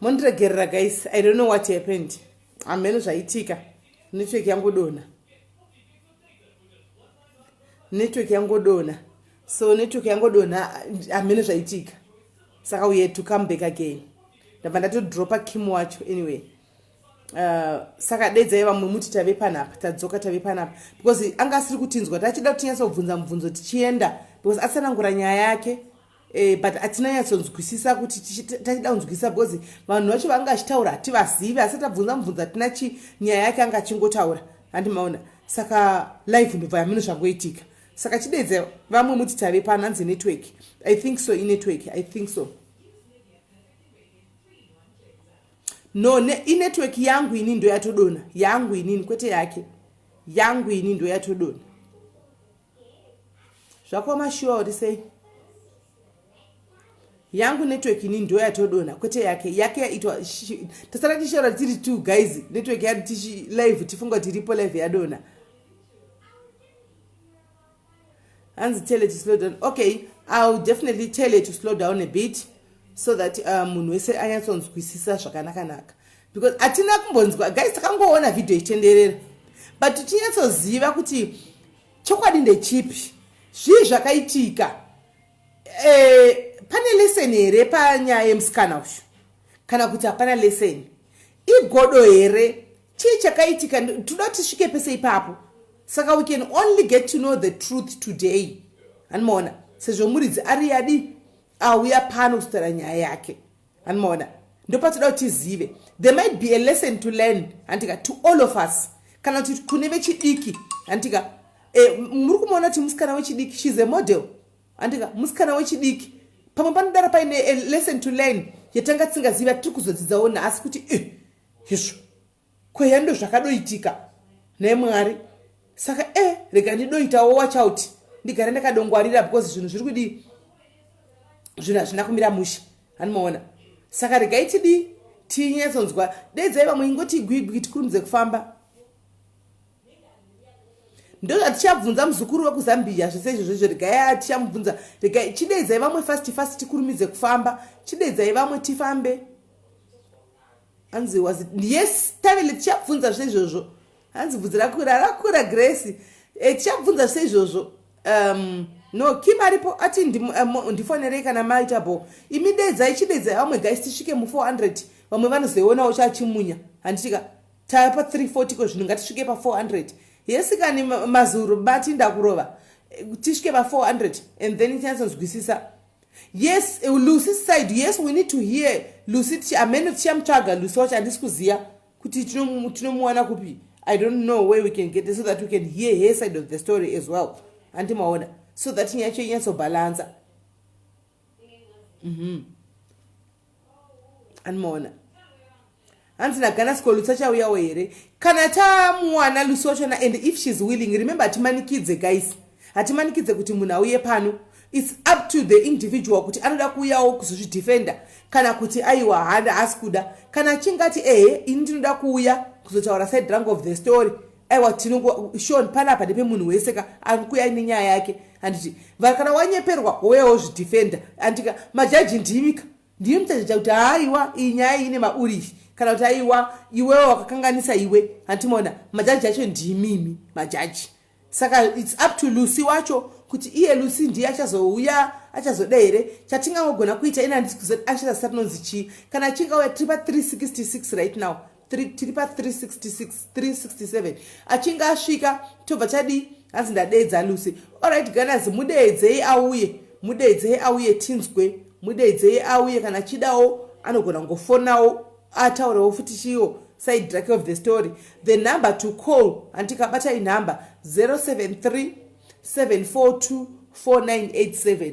mondiregerera guys i don't know what happened hamheno zvaitika network yangodona network yangodona so network yangodona hamheno zvaitika saka we had to come back again ndabva ndatodropa kim wacho anyway Uh, saka dedzai vamwe muti tave panapa tadzoka tave panapa because anga asiri kutinzwa tachida kuti tinyatsa kubvunza mubvunzo tichienda because atsanangura nyaya yake eh, but atina nyatsonzwisisa kuti tachida kunzwisisa because vanhu vacho vanga achitaura hativazivi asi tabvunza mubvunzo atina chi nyaya yake anga achingotaura handi maona saka live ndobva yamino zvangoitika saka chidedze vamwe muti tave pano hanzi network i think so inetwork i think so No, ne, inetwork yangu ini ndoyatodona yangu inini kwete yake yangu ini ndoyatodona zvakoma shuwa uri sei yangu network ini ndo yatodona kwete yake yake yaitwa tasara tishaura tiri two guys network yati tichi live tifunga kuti iripo live yadona hanzi tell to slow down okay ill definitely tell to slow down a bit so that uh, munhu wese anyatsonzwisisa zvakanakanaka because hatina kumbonzwa guys takangoona vhidhiyo ichitenderera but tichinyatsoziva kuti chokwadi ndechipi zvii zvakaitika e, pane leseni here panyaya yemusikana uyu kana kuti hapana leseni igodo here chii chakaitika toda tisvike pese ipapo saka we can only get to know the truth today anomaona sezvo muridzi ari yadi auya pano kuzotara nyaya yake anomaona ndopatoda kuti tizive there might be a lesson to learn handitika to all of us kana kuti kune vechidiki handitika e, eh, muri kumaona kuti musikana wechidiki shes a model handitika musikana wechidiki pamwe panodara paine a lesson to learn yatanga tisingaziva tiri kuzodzidzawo nhasi kuti eh, hezvo kweya ndozvakadoitika naye mwari saka e eh, rega ndidoitawo watch out ndigare ndakadongwarira because zvinhu zviri kudii zvinhu hazvina kumira mushe hanimaona saka regai tidii tinyatsonzwa dedzai vamwe ingoti gwigwi tikurumidze kufamba ndozvatichabvunza muzukuru wekuzambia zvese izvozvo izvo regai tichamubvunza regai chidedzai vamwe fast fast tikurumidze kufamba chidedzai vamwe tifambe hanzi was yes tavele tichabvunza zveizvozvo hanzi bvudzi rakwira rakwira grace e, tichabvunza seizvozvo um, no kim aripo ati eh, ndifonerei kana maita bo imi dedzai chidedzai vamwe guys tisvike mu 400 vamwe vanozoionawo chachimunya handitika tava pa 340 ko zvinhu ngatisvike pa 400 yesi kani mazuro bati ndakurova eh, tisvike pa 400 and then tinyatsonzwisisa yes eh, lucy side yes we need to hear lucy tichi amene tichamutsvaga lucy wacho handisi kuziva kuti tinomuwana kupi i don't know where we can get it so that we can hear her side of the story as well handi maona so that nyaya cho inyatsobhalansa mm -hmm. anomaona hanzi nagana siko lutsa chauyawo here kana tamuwana lusi wachona and if she's willing remember hatimanikidze guys hatimanikidze kuti munhu auye pano its up to the individual kuti anoda kuuyawo kuzozvidefenda kana kuti aiwa handa haasi kuda kana achinge ati ehe ini ndinoda kuuya kuzotaura side rank of the story aiwa tinoshon panapa ndepemunhu wese ka akuuya nenyaya yake handiti vhara kana wanyeperwa wouya wozvidefenda handika majaji ndimika ndiye muchajaja kuti haiwa iyi nyaya ine maurishi kana kuti aiwa iwewo wakakanganisa iwe handimona majaji acho ndimimi majaji saka its up to lucy wacho kuti iye lucy ndiye achazouya achazoda here chatingangogona kuita ina ndizoti achita sati nonzi chii kana achingauya tiri pa 366 right now tiri pa 366 367 achinge asvika tobva chadii hanzi ndadeedza lucy orit ganas mudeedzei auye mudeedzei auye tinzwe mudeedzei auye kana chidawo anogona kungofonawo ataurewo futi chiwo side drake of the story the number to call handikabata inumber 073 742 4987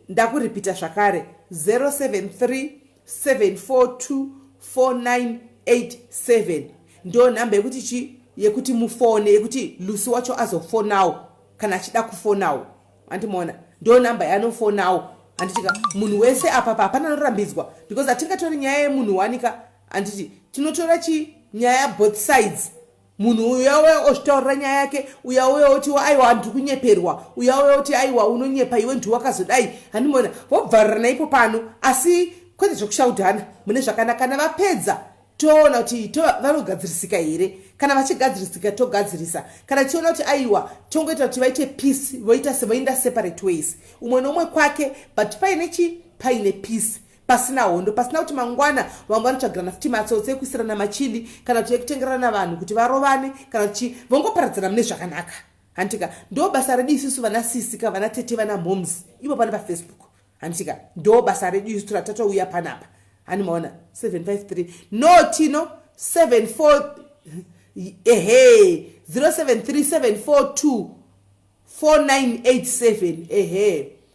Ndakuripita zvakare 0737424987 ndo nhamba yekuti chi yekuti mufone yekuti Lucy wacho azofonawo kana achida kufonawo andimoona ndo nhamba yanofonawo anditika munhu wese apa pa hapana anorambidzwa because atingatori nyaya yemunhu wanika anditi tinotora chi nyaya both sides munhu uyu uyauya ozvitaurira nyaya yake uyauya oti aiwa hanhu tiri kunyeperwa uyauya oti aiwa unonyepa iwe ndiwe wakazodai handimona vobvarira naipo pano asi kwete zvekushaudhana mune zvakanaka kana vapedza toona kuti vanogadzirisika here kana vachigadzirisika togadzirisa kana tichiona kuti aiwa tongoita kuti vaite peace voita sevoenda separate ways umwe noumwe kwake but paine chi paine peace pasina hondo pasina kuti mangwana vamwe vanotsvagirana futi matsotsi ekuisirana machili kana kuti ekutengerana vanhu kuti varovane kana kuti chii vongoparadzana mune zvakanaka handitika ndo basa redu isusu vana sisi ka vana tete vana moms ivo pane pafacebook handitika ndo basa redu isu tora tatouya panapa hani maona 753 no tino 74 ehe 073742 4987 ehe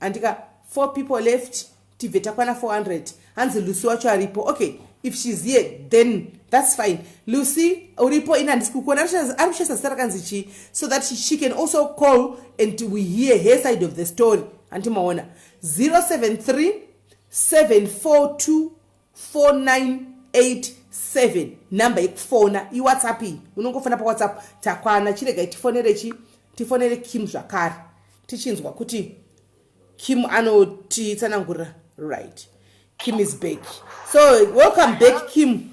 andika four people left tibve takwana 400 hanzi lucy wacho aripo okay if shes here then thats fine lucy uripo ini handisi kukuona ari kushaisa zita rakanzi chii so that she can also call and we hear her side of the story handimaona 073 742 4987 number yekufona iwhatsapp iyi unongofona pawhatsapp takwana chiregai tifonere chi tifonere kim zvakare tichinzwa kuti kim anotitsanangurira right kim is back so welcome back kim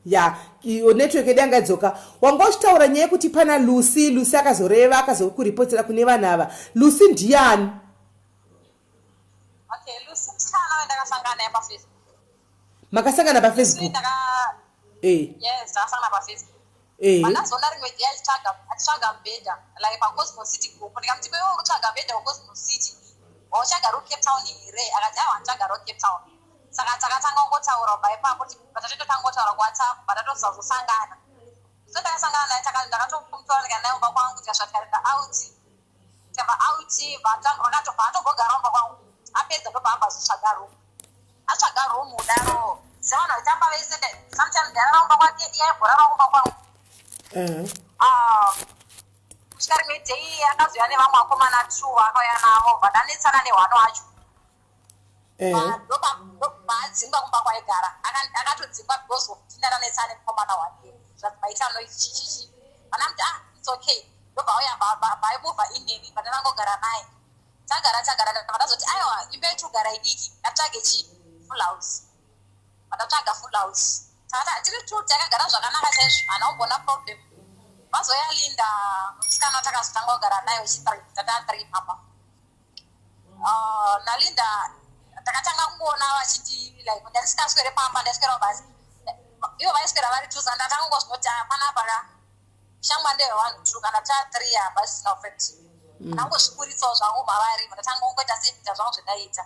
ya iyo network yedu yanga idzoka wanga uchitaura nyaya yekuti pana lucy lucy akazoreva akazokuripotera kune vanhu ava lucy ndiyani Okay, Lucy msikana wendakasangana naye pafacebook. Makasangana pafacebook? Ndaka Eh. Yes, ndakasangana pafacebook. Eh. Pandazoona rimwe day achitsvaga achitsvaga mbeda like paCosmo City group ndikamuti kwewe uri kutsvaga mbeda kuCosmo City. Wautsvaga ro Cape Town here? Akati awa nditsvaga ro Cape Town. Saka takatanga kungotaura kubva ipapo kuti patatototanga kungotaura kuWhatsApp patatozazosangana. So ndakasangana naye takati ndakatomutora ndikaenda naye kumba kwangu tikasvika tikaenda out. Tava out vatangona tobva atogogara umba kwangu apedza ndobva abva azvitsvaga room atsvaga room udaro sevanhu vaitamba vese sometimes ndarara umba kwake iye aimborara umba kwangu mhm. ah, kusvika rimwe day akazoya nevamwe akomana two akauya navo vadanetsana nehwano wacho ehe ndopaadzingwa kumba kwaigara akatodzingwa because of dhinda ranetsa ane mukomana wake zvazvaita noi chichichi vana muti ah its okay ndobva uya baimova inini pane vangogara naye tagara tagara vandazoti aiwa imba yetogara idiki ndatsvage chi full house vandatsvaga full house takati tiri two takagara zvakanaka chaizvo hana umbona problem vazoya linda musikana takazotanga kugara naye uchiprivate tata three papa uh, nalinda takatanga kungoona vachiti like ndaisikaswere pamba ndaiswerawo basi ivo vaiswera vari two sandatanga kungozvinoti ah, panapa ka shangwa ndeve vanhu two kana ta three apa zvisina effect mm. ndangozvikuritsawo zvangu mavari ndatanga kungoita seita zvangu zvendaita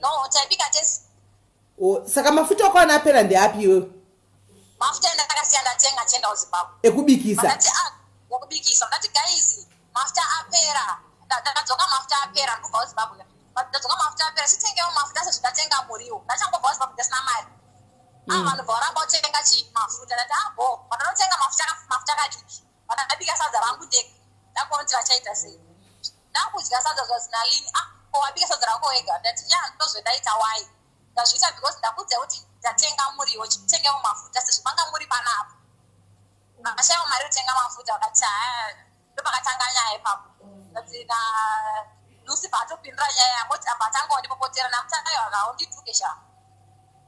No, taibika tese. Oh, saka mafuta okwana apera ndeapi iwewe? Mafuta enda takasiya ndatenga tienda kuZimbabwe. Ekubikisa. Ndati ah, wokubikisa. Ndati guys, mafuta apera. Ndadzoka mafuta apera ndikubva kuZimbabwe. Ndadzoka mafuta apera sitengewo mafuta sezvo ndatenga muriwo. Ndachangobva kuZimbabwe ndisina mari. Ah, mm. vanhu bva varamba kutenga chi mafuta. Ndati ah, bo, vanhu vanotenga mafuta mafuta kadiki. vakabika sadza rangu ndega ndakuona kuti vachaita sei ndakudya sadza zvazinalini a ah, ko wabika sadza rako wega ndati ya ndozvendaita wai ndazviita because ndakudza kuti ndatenga muriwo chitengewo mafuta sezvo manga muri panapa vakashaiwa mari yotenga mafuta vakati haa ndopakatanga nyaya ipapo ndati na lucy paatopindura nyaya yamoti apa atanga wandipopotera namutanayo akawo ndituke shaa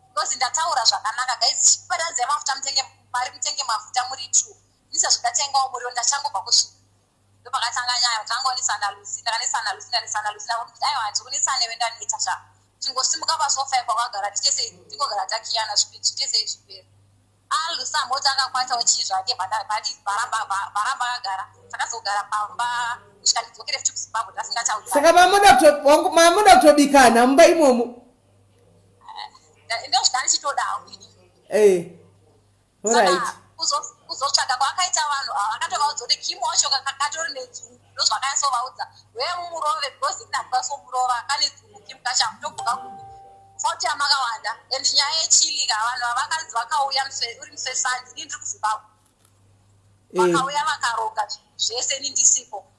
because ndataura zvakanaka guys chipatanzi yemafuta mutenge mari mutenge mafuta muri true Ndisazvo ndatengawo muriwo ndachangobva kusvika. Ndopakatanga nyaya kutangonesana Lucy ndakanesana Lucy ndanesana Lucy ndakuti aiwa hanzi kunesana iwe ndaneta sha. Tingosimuka pasofa ipo kwagara tichese tingogara takiyana zvichese zvipera. Ah Lucy amboti akakwata uchii zvake bati varamba varamba akagara takazogara pamba kusvika ndidzokere futi kuZimbabwe ndasingatauri. Saka mamoda mamoda kutobikana mumba imomo. Eh, ndozvitani chitodawo. Eh. Alright. kuzotsvaga kwaakaita vanhu ava akatovaudza kuti kim wacho kakatori nedzungu ndozvakayasovaudza wee mumurove because ini ndakukasomurova kane dzungu kim kachamu tobuka kupi foti yamakawanda and nyaya yechilika vanhu vavakanzi vakauya uri musesandi ini ndiri kuzimbabwe eh. vakauya vakaroga zvese ini ndisipo e.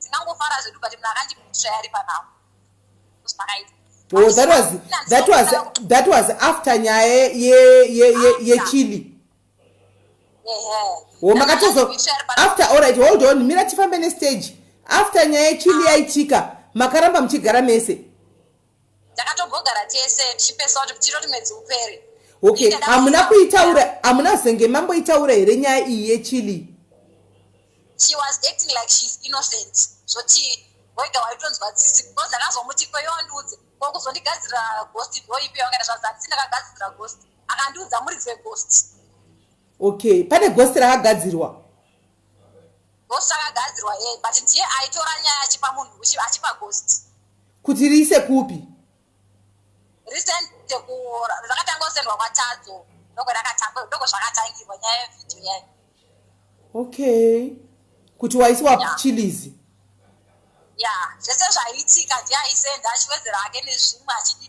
Tinangofara zvedu but munhu akandishaya ari panawo. Zvakaita. Oh, that was that was that was after nyaya ye ye ye ye chili. Oh, makatozo after all right hold on mira tifambe ne stage after nyaya ye chili yaitika makaramba muchigara mese. ndakatombogara tese tichipesa kuti tinoti mwedzi upere okay hamuna kuitaura hamuna zenge mamboitaura here nyaya iyi yechili she was acting like she's innocent zvoti wega waitonzwa tsitsi because ndakazomuti kweyo andiudze ko kuzondigadzira ghost ndoipi yawakaita zvazatsi ndakagadzira ghost akandiudza muridzi weghost okay pane ghost rakagadzirwa ghost akagadzirwa yeye but ndiye aitora nyaya achipa munhu achipa ghost kuti riise kupi risende ku rakatanga kusendwa kwatadzo ndoko rakatanga ndoko zvakatangirwa nyaya yevideo yayo okay kuti waisiwa yeah. chilizi ya yeah. zvese zvaiitika ndiye aisenda achiwedzera ake nezvimwe achidii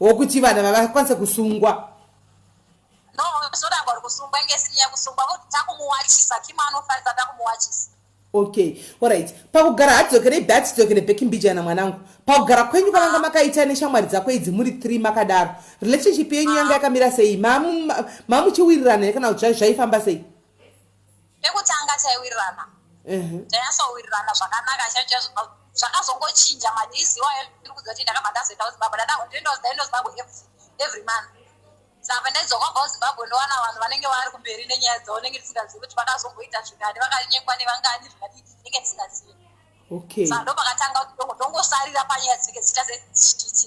wokuti vanhu ava vakwanise kusungwa no zvoramba uri kusungwa inge sinyaya kusungwa voti takumuwachisa kim anofarisa takumuwachisa okay orit pakugara hadzokerei be atidzokere beki mbijana mwanangu pakugara kwenyu kwavanga makaita neshamwari dzako idzi muri three makadaro relationship yenyu yanga yakamira sei mamuchiwirirana here kana kuti zvaifamba sei pekutanga taiwirirana tainyatsowirirana zvakanaka chaizvo zvakazongochinja madizi iwayo ndiri kuziva kuti ndakabva ndazoenda kuzimbabwe ndadaindoenda kuzimbabwe every month saka ndaidzoka kubva kuzimbabwe ndowana vanhu vanenge vari kumberi nenyaya dzavo nenge ndisingazivi kuti vakazomboita zvingani vakanyekwa nevangani zvingani nenge ndisingazivi saka ndopakatanga kuti ndongosarira panyaya dzinenge dzichita sezvichititi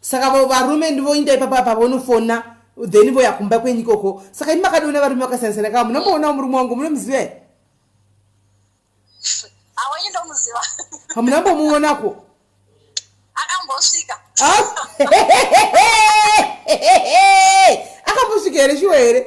saka varume ndivoinda ipapa pavonofona then voya kumba kwenyu ikoko saka ini makadiona varume vakasiyana siyana kaa munomoonawo murume wangu munomuziva here hamuna mbomuonako akambosvika here shuwa here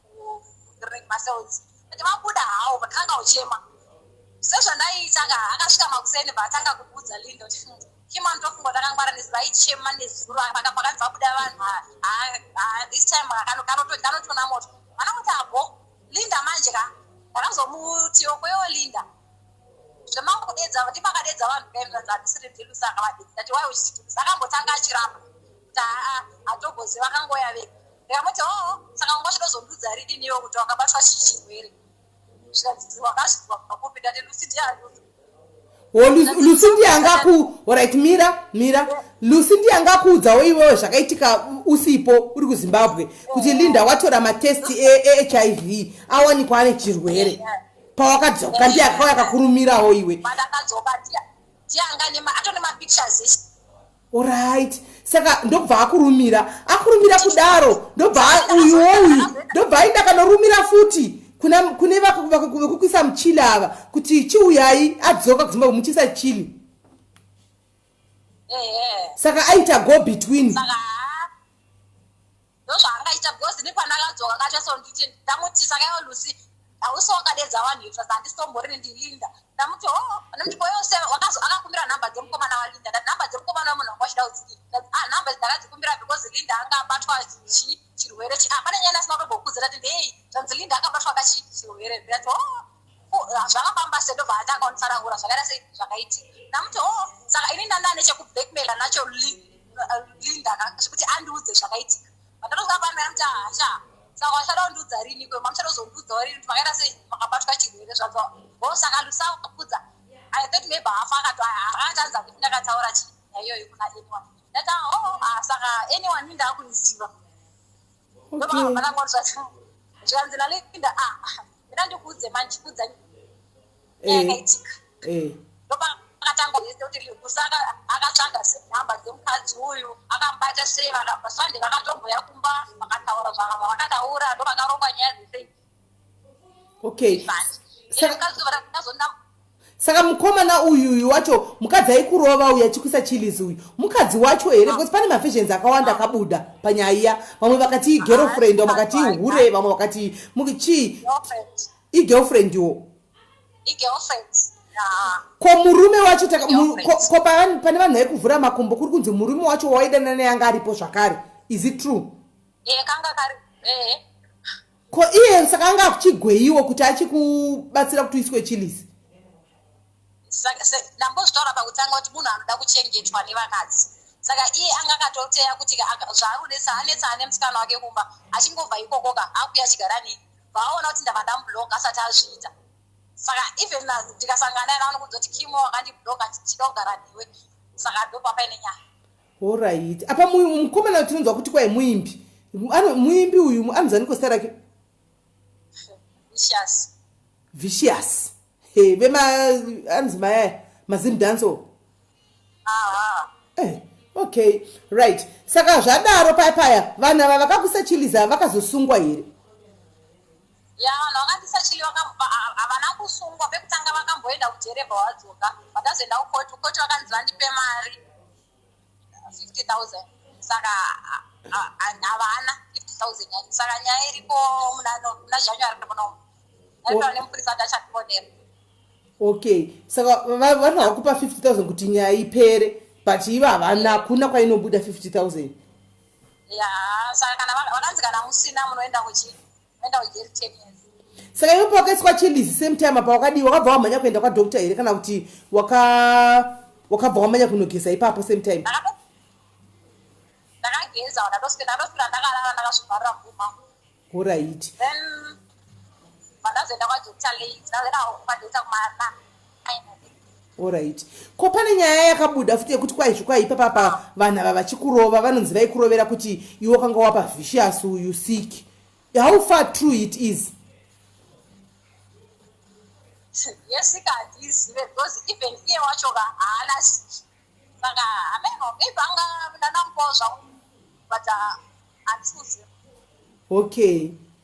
ring masounds and vabuda hawo but vanga uchema sezvandaiita ka akasvika makuseni vatanga kuudza lindo chimano tofunga takangwara nezi vaichema nezuro paka pakanzi vabuda vanhu this time kanotona moto vana kuti abo linda manje ka ndakazomutiwo kwewo linda zvemangudedza ndipakadedza vanhu kaimzanzandisiri bvilu saka vadedza tiwai uchisitumisa akambotanga achiramba kuti haa hatogoziva kangoya vega ndikamuti oo saka nguva chinozondudza ridini iwo kuti wakabatwa chii chirwere zvikanzi wakazvizwa pakopi ndati lusi ndiye anduza lusi ndiye angaku orit mira mira lusi ndiye angakuudzawo iwewo zvakaitika usipo uri kuzimbabwe kuti linda watora matesti ehiv e, e awanikwa ane chirwere yeah, yeah pawakadzoka ndiye akauya akakurumirawo iwe Alright. Saka ndobva akurumira. Akurumira kudaro. Ndobva uyu uyu. Ndobva aenda kanorumira futi. Kuna kune vakukuisa muchili ava kuti chiuyai adzoka kuzimba kumuchisa chili. Saka aita go between. Saka ndozvaangaita because ini pandakadzoka kacho so nditi ndamuti sakaiwa lucy hausi wakadedza vanhu itsva dzandisombori nendilinda ndamuti ho oh, anondiko yose akakumbira nhamba dzemukomana walinda ndati nhamba dzemukomana wemunhu wanga wachida udzii ah, nhamba idzi ndakadzikumbira because linda anga abatwa chii chirwere chii ah, pane nyaya ndasina kutombokudza ndati ndei zvanzi linda akabatwa kachi chirwere ndati ho oh, zvakafamba se ndobva atanga kunditsanangura zvakaita sei zvakaitika ndamuti o oh, saka ini ndandava nechekublackmaila nacho uh, linda zvekuti andiudze zvakaitika vandatozoka pano yamuti hasha saka wachada kundiudza rini kwe mamuchada kuzondiudzawo rini kuti makaita sei makabatwa chirwere zvadzo o oh, saka ndisakudza i thought maybe hafa akato akatanza kuti ndakataura chii naiyoyo kuna anyone ndati o oh, ah, saka anyone indaakuniziva zvikanzi nalinda a ah, ah, ina ndikuudze manje kudza yakaitika eh, eh. akatanga yese kuti kusaka akatsvaga nhamba dzemukadzi uyu akambata sei vakabva sande vakatomboya kumba vakataura zvakabva vakataura ndo vakarongwa nyaya dzese okay saka mukomana uyuyu wacho mukadzi aikurova uyu achikuisa chilis uyu mukadzi wacho here ah. because pane mavisions akawanda akabuda panyaya iya vamwe vakati ah, igirlfriend vamwe vakati ihure vamwe vakati chii igirlfriend wo ko murume wacho ko pane vanhu vaikuvhura makumbo kuri kunzi murume wacho waidanana yanga aripo zvakare is it true Ko iye saka anga akuchigweyiwo kuti achikubatsira kuti uiswe chilisi. Saka se ndambozvitaura pakutanga kuti munhu anoda kuchengetwa nevakadzi. Saka iye anga akatoteya kuti zvaanonetsa anetsa ane musikana wake kumba achingobva ikokoka akuya achigara nei. Vaona kuti ndava ndamublock asati azviita. Saka even ndikasangana naye anokuudza kuti Kimo wakandiblock ndichida kugara newe. Saka ndopapaine nyaya. Horaiti. Apa mukomana tinonzwa kuti kwai muimbi. Muimbi uyu anozaniko zita rake? Vicious. Vicious. Hey, vema anzi maya mazim dance. Aha. Eh, okay. Right. Saka zvadaro paya paya vana vavakakusa chiliza vakazosungwa here? Yeah vanhu vakandisa chili vakamupa havana kusungwa pekutanga vakamboenda kujere bva vadzoka vakazoenda kukoti kukoti vakanzi vandipe mari 50000 saka havana 50000 yani saka nyaya iriko muna january tapona umu aitaura nemupurisa ati achatiponera okay saka vanhu vakupa 50000 kuti nyaya ipere but ivo havana hakuna kwainobuda 50000 ya saka kana vakanzi kana musina munoenda kuchii saka iwe pawakaiswa chilizi same time apa wakadii wakabva wamhanya kuenda kwadoctor here kana kuti wakabva wamhanya kunogeza ipapo same time horaiti Alright. Ko pane nyaya yakabuda futi yekuti kwaizvi kwaipa papa vanhu ava vachikurova vanonzi vaikurovera kuti iwe kanga wapa vicious uyu sick. How far true it is? Yesika hatizive because even iye wacho ka haana sick. Saka hameno maybe anga ndana mukoo zvangu but uh, hatizive. Okay.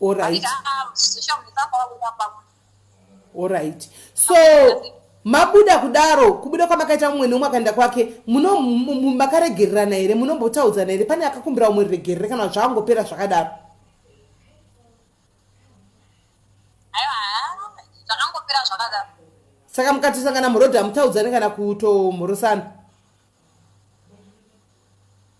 Alright. Alright. So mabuda kudaro kubuda kwamakaita mumwe neumwe akaenda kwake muno makaregererana here munombotaudzana here pane akakumbira umwe regerere kana zvakangopera zvakadaro saka mukatosangana murodha mutaudzane kana kutomhorosana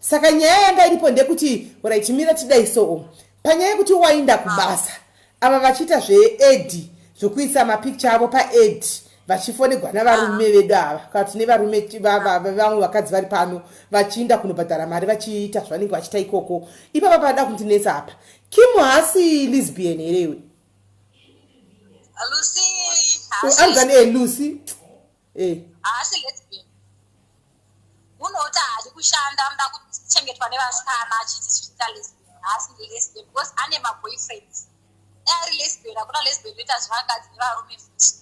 saka nyaya yanga iripo ndekuti rit mira tidai soo panyaya yekuti wainda kubasa ava vachiita zveed zvekuisa mapicture avo paed vachifonegwa navarume ah. vedu ava kati nevarume vamwe vakadzi vari pano vachiinda kunobhadhara mari vachiita zvavanenge vachiita ikoko ipapa paada kundinetsa apa kim haasi lisbian here iwe anzani elucy eh. haasi lesbian unoti haadi kushanda anoda kuchengetwa nevasikana achiti zviita lesbian haasi lesbian because ane maboyfriends dai ari lesbian hakuna lesbian inoita zvevakadzi nevarume futi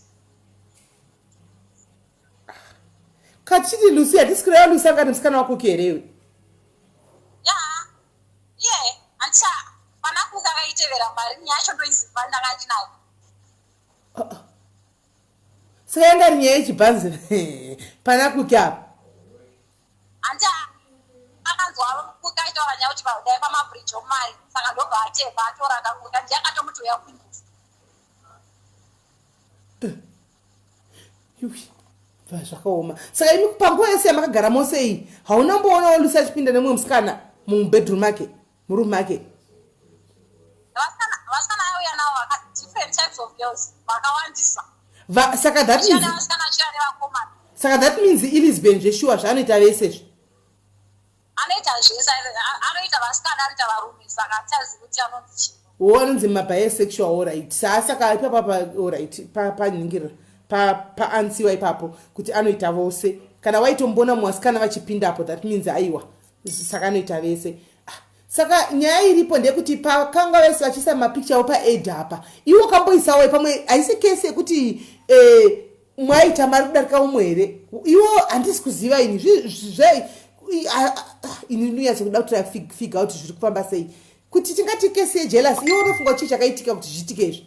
kachiti lucy hatisi kureva lucy angati musikana wako kerewe ya ye handicha pana kuka kaitevera mari nyacho ndoiziva ndakati nayo Saka yanga rinyaya yechibhanzi pana kuti apa. Hanti akanzwa kuti aitaura nyaya kuti dai pamabridge omari saka ndobva atepa atora akakuta ndiye akatomuti uya kunyusa. Bva zvakaoma. Saka imi panguva yese yamakagara mose iyi hauna mboonawo Lucy achipinda nemumwe musikana mubedroom make? murume ake vasikana vaiuya navo vaka different types of girls vakawandisa saka that means vasikana vachiuya nevakomana saka that means ilisbon zveshuwa zvaanoita vese zve anoita zvese anoita vasikana anoita varume saka tazi kuti anonzi chii wo anonzi mabisexual orit saa saka ipapa pa orit panhingirira pa paansiwa ipapo kuti anoita vose kana waitombona muvasikana vachipindapo that means aiwa saka anoita vese ah, saka nyaya iripo ndeyekuti pakanga vese vachiisa mapicture wo paed apa iwe wakamboisawo pamwe haisi kese yekuti eh, mwaita mari kudarika umwe here iwo handisi kuziva ini ini ndinonyatsa kuda kuti figa kuti zviri kufamba sei kuti tingati kese yejelus iwo unofunga chii chakaitika kuti zviitike izvi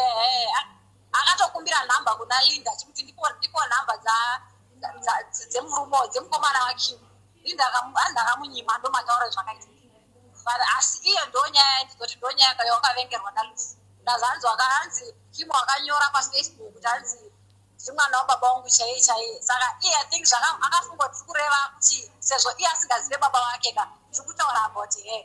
ehe akatokumbira nhamba kuna linda chikuti ndipo ndipo nhamba dza dzemurumo dzemukomana wakim linda anhu akamunyima ndomataura zvakaita but asi iyo ndo nyaya ndizoti ndo nyaya kayo wakavengerwa nalusi ndazanzi wakaanzi kim wakanyora pafacebook kuti anzi ndimwana wababa wangu chaiye chaiye saka iye i think zvakafunga tiri kureva kuti sezvo iye asingazive baba wake ka tiri kutaura about her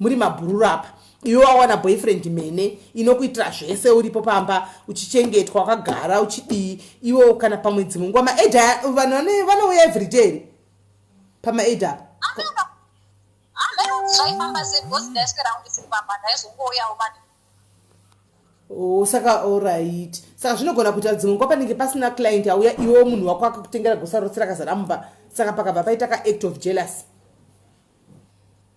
muri mabhururu apa iwe wawana boyfriend mene inokuitira zvese uripo pamba uchichengetwa wakagara uchidii iwe kana pamwe dzimwe nguva maaid vanhu vanouya everyday pamaaid apa oh, saka orit saka zvinogona kuita dzimwe nguva panenge pasina client auya iwewo munhu wako akakutengera gosarotsira kazara mumba saka pakabva paita kaact of jealousy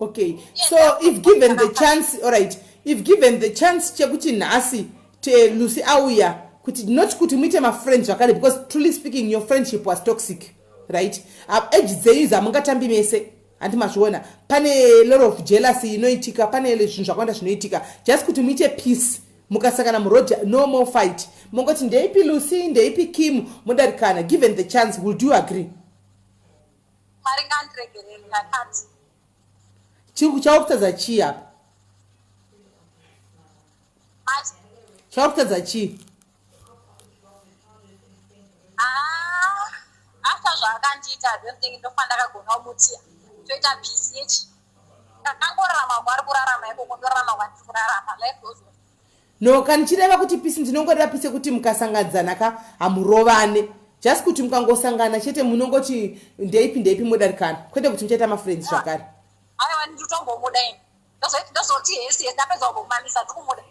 okay yes, so if given the chance alright if given the chance chekuti nhasi lucy auya kuti not kuti muite mafriend zvakare because truly speaking your friendship was toxic right age dzenyu dzamungatambi mese handi mazviona pane lot of jealousy inoitika pane zvinhu zvakawanda zvinoitika just kuti muite peace mukasangana muroad no more fight mongoti ndeipi lucy ndeipi kim modarikana given the chance will do agree Mwari ngandiregerere ndakati. Chiri chakutadza chii apa? Mati. Chakutadza chii? Ah, after zvaakandiita I don't think ndofanira kagona kumuti toita peace yechi. Ndakangorarama kwari kurarama ikoko ndorarama kwandiri kurarama life goes on. No ka ndichireva kuti pisi ndinongoreva pisi yekuti mukasangadzana ka hamurovane just kuti mukangosangana chete munongoti ndeipi ndeipi modarikana kwete kuti muchaita mafriends ah. zvakare aiwa nditotombomuda ini ndozoti hesi hesi ndapedza kumamisa ndikumuda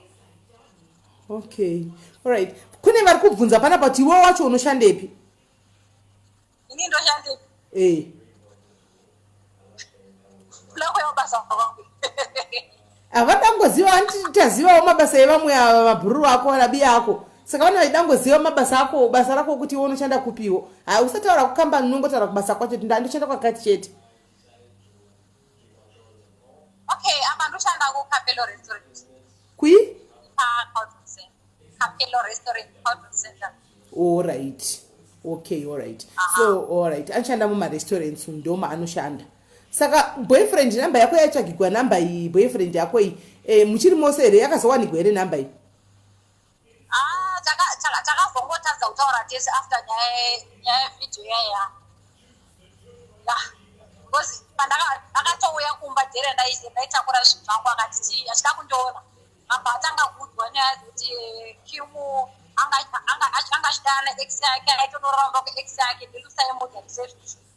okay allright kune vari kubvunza panapa kuti iwe wacho unoshandepi ini ndoshande eh plako yabasa kwangu havadangoziva anti tazivawo mabasa evamwe ava mabhururu ako rabi ako saka vana vaidangoziva mabasa ako basa rako kuti iwe unoshanda kupiwo ha usataura kukambani unongotaura kubasa kwacho kuti ndandoshanda kwakati chete Okay, apa ndoshanda ku Capello Restaurant. Kui? Ah, Capello Restaurant, Cultural Center. All right. Okay, all right. Uh -huh. So, all right. Anoshanda muma restaurants ndoma anoshanda. Saka boyfriend number yako yaitsvagigwa number iyi boyfriend yako iyi eh, muchiri mose here yakazowanikwa here number iyi? Ah, takazongotadza kutaura tese after nyaya yevideo yaya because pandakatouya kumba dhere ndaitakura zvinhu zvangu akati ti achida kundiona apa atanga kuudzwa nyaya dzekuti eh, kimu anga achidana ex yake aitonoramba kuex yake ndilusaimudza ndisezvizvo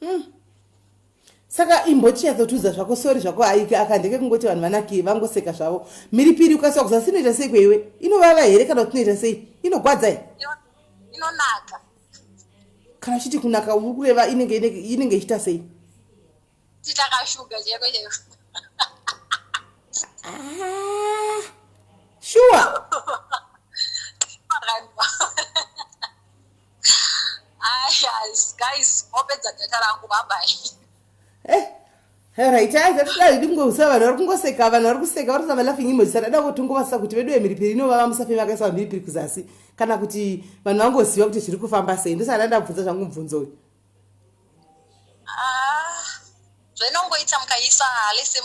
hmm. saka imbochinyatsotiudza zvako sori zvako haike aka ndeke kungoti vanhu vanaki vangoseka zvavo mhiripiri ukasiwa kuzasi inoita sei kweiwe inovava here kana kuti inoita sei inogwadza he inonaka kana chiti kunaka uri kureva inenge inenge ichiita sei titakashuga cheko cheko ah, shuwa raitaiaaiaikungousa vanhu vari kungoseka vanhu vari kuseka vari kusava laughing emoji saka dada kotongovasa kuti vedu vemhiripiri inovava musafe vakaisa vamhiripiri kuzasi kana kuti vanhu vangoziva kuti zviri kufamba sei ndosaka ndandabvunza zvangu mubvunzo uyu ah, zvainongoita mukaisa lese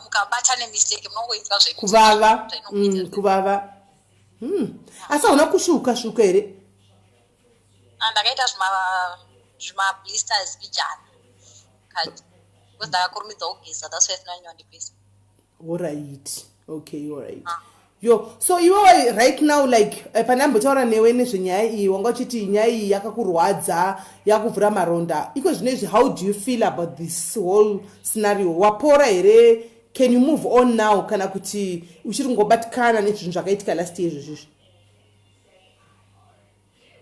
mukabata nemistake munongoita zvekuvava mm, kuvava Hmm. asi hauna kusvuka svuka here ah, ndakaita zvimablisters bijana kati because ndakakurumidza kugeza that's why sinanyondipisa orit okay orit ah. yo so iwewe right now like eh, pane ambotaura newe nezvenyaya iyi wanga uchiti nyaya iyi yakakurwadza yakuvhura maronda iko zvino izvi how do you feel about this whole scenario wapora here can you move on now kana kuti uchiri kungobatikana nezvinhu zvakaitika last year izvozvizvi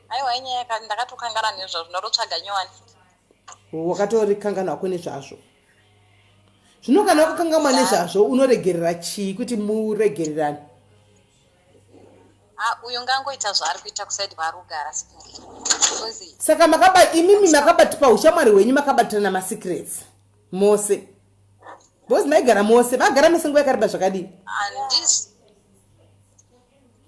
aiwa inyaya ndakatokangana nezvazvo ndatotsvaga nyowani wakatorikangana wako nezvazvo zvino kana wakakangamwa nezvazvo unoregerera chii kuti muregererane ah, uyu ngangoita zvaari kuita kusaidi kwaari kugara saka makaba imimi makabatipa ushamwari hwenyu makabatirana masecrets mose Boss maigara mose, magara mese nguva yakareba zvakadii? Andis.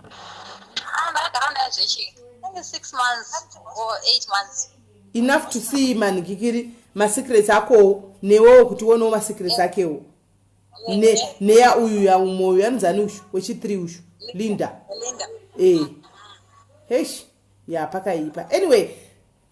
Ah, ndagara naye zvechi. Maybe 6 months or 8 months. Enough to see man kikiri ma secrets akowo newewo kuti uonewo ma secrets yeah. akewo. Ne neya uyu ya umwe uyu anzani uyu wechi 3 uyu. Linda. Linda. Eh. Hey. Ya pakaipa. Anyway,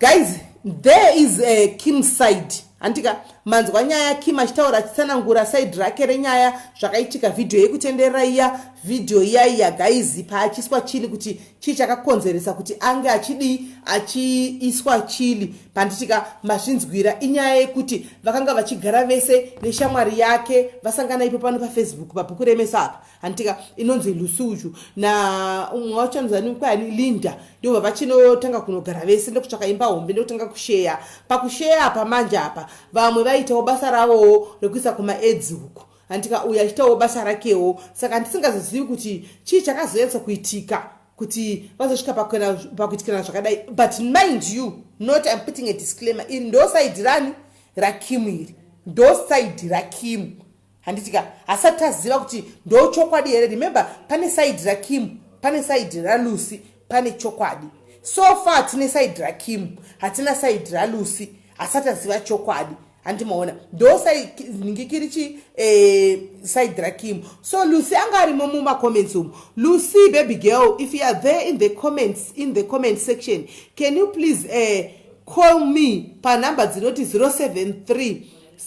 guys there is a kim side handika manzwa nyaya kim achitaura achitsanangura side rake renyaya zvakaitika vhidhiyo yekutenderera iya vhidhiyo iya iya gaizi paachiswa chili kuti chii chakakonzeresa kuti ange achidii achiiswa chili panditika mazvinzwira inyaya yekuti vakanga vachigara vese neshamwari yake vasangana ipo pano pafacebook pabhuku remesa apa hantika inonzi lusuju naumwe wacho anozani kwani linda ndova vachinotanga kunogara vese ndokutsvaka imba hombe ndokutanga kusheya pakusheya apa manje apa vamwe vaitawo basa ravowo rekuisa kumaedzi uku handika uyo achiitawo basa rakewo saka ndisingazozivi kuti chii chakazonyatsa kuitika kuti vazosvika pakuitikana zvakadai but mind you not im putting a disclaimer iri ndosaidi rani rakimu iri ndosaidi rakimu handiti ka hasati aziva kuti ndochokwadi here remember pane saidi rakim pane saidi ralucy pane chokwadi so far tine saidi rakim hatina saidi ralucy hasati aziva chokwadi handi maona ndo sainingikiri chi eh, saidi rakim so lucy anga arimo mumacomments umu lucy baby girl if you are there in the comments in the comment section can you please eh, call me panumber dzinoti 073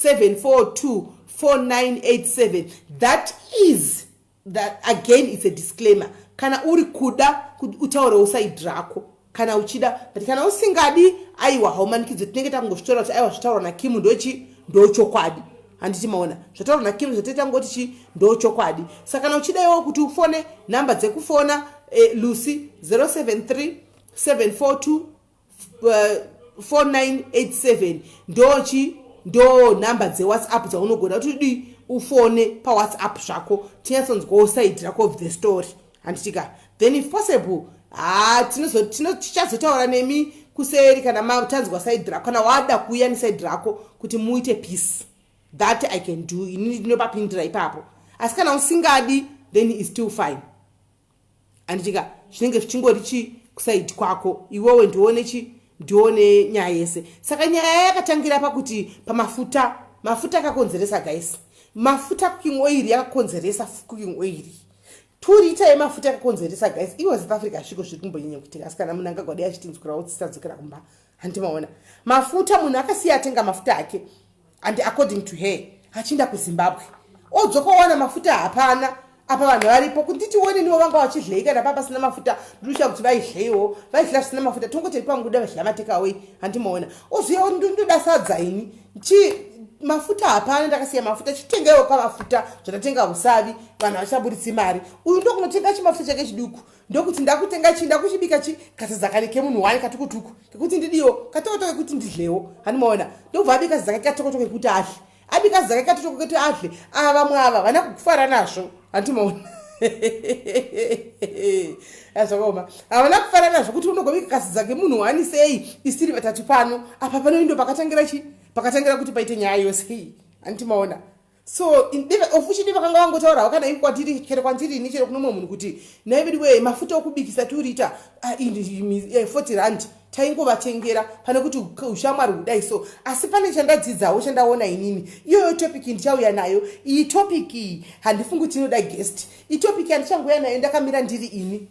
7424987 that is that again it's a disclaimer kana uri kuda utaurewo side rako kana uchida but kana usingadi aiwa haumanikidzo tinenge takungozvitaura kuti aiwa zvitaurwa nakimu ndochi ndochokwadi handiti maona zvataurwa nakimu zvataita ngoti chi ndochokwadi saka kana uchidaiwo kuti ufone nhamba dzekufona eh, lucy 073 742 4987 ndochi ndo nhamba dzewhatsapp dzaunogona kuti dii ufone pawhatsapp zvako tinyatsonzwawo side rako of the story handitika then if possible ha tichazotaura nemi kuseri kana matanzwa side rako kana wada kuuya neside rako kuti muite peace that i can do ini ndinopapindira ipapo asi kana usingadi then is still fine anditika zvinenge zvichingori chii kusaidi kwako iwewe ndione chii ndione nyaya yese saka nyaya yakatangira pakuti pamafuta mafuta akakonzeresa guys mafuta cooking oil yakakonzeresa cooking oil two liter yemafuta yakakonzeresa guys iwe south africa sviko zviri kumbonyanya kuitika asi kana munhu angagwadi achitinzwirawo tsisadzokera kumba handi maona mafuta munhu akasiya atenga mafuta ake and according to her achiinda kuzimbabwe odzoka owana mafuta hapana apa vanhu varipo kunditi wone nivo vanga vachidlei kana paa pasina mafuta ndinoshaya kuti vaidleiwo vaidla zvisina mafuta tongote ndi panguda vachidya matekaway handi maona oziva ndoda sadza ini chi mafuta hapana ndakasiya mafuta chitengaiwo ka mafuta zvatatenga usavi vanhu havachabuditsi mari uyu ndokunotenga chimafuta chake chiduku ndokuti ndakutenga chii ndakuchibika chii katizakani kemunhu wani katukutuku kekuti ndidiwo katokotoko kekuti ndidlewo hanimaona ndobva abika zizakani katokotoko kekuti adle abika zizakani katokotoko kekuti adle ava vamwe ava vana kufara nazvo handimaona azvakaoma havana kufara nazvo kuti unogobika kasiza kemunhu wani sei isiri vatatu pano apa panoindo pakatangira chii pakatangira kuti paite nyaya yose hii handimaona so ofushidi vakanga vangotaurawo kana ivi kwatiri chero kwandiri ini chero kuno mumwe munhu kuti nhai vedi wee mafuta okubikisa tiuriita ah, eh, forty rand taingovatengera pane kuti ushamwari hudai so asi pane chandadzidzawo chandaona inini iyoyo topic ndichauya nayo iyi topic iyi handifungi kuti inoda guest itopic yandichangoya nayo ndakamira ndiri ini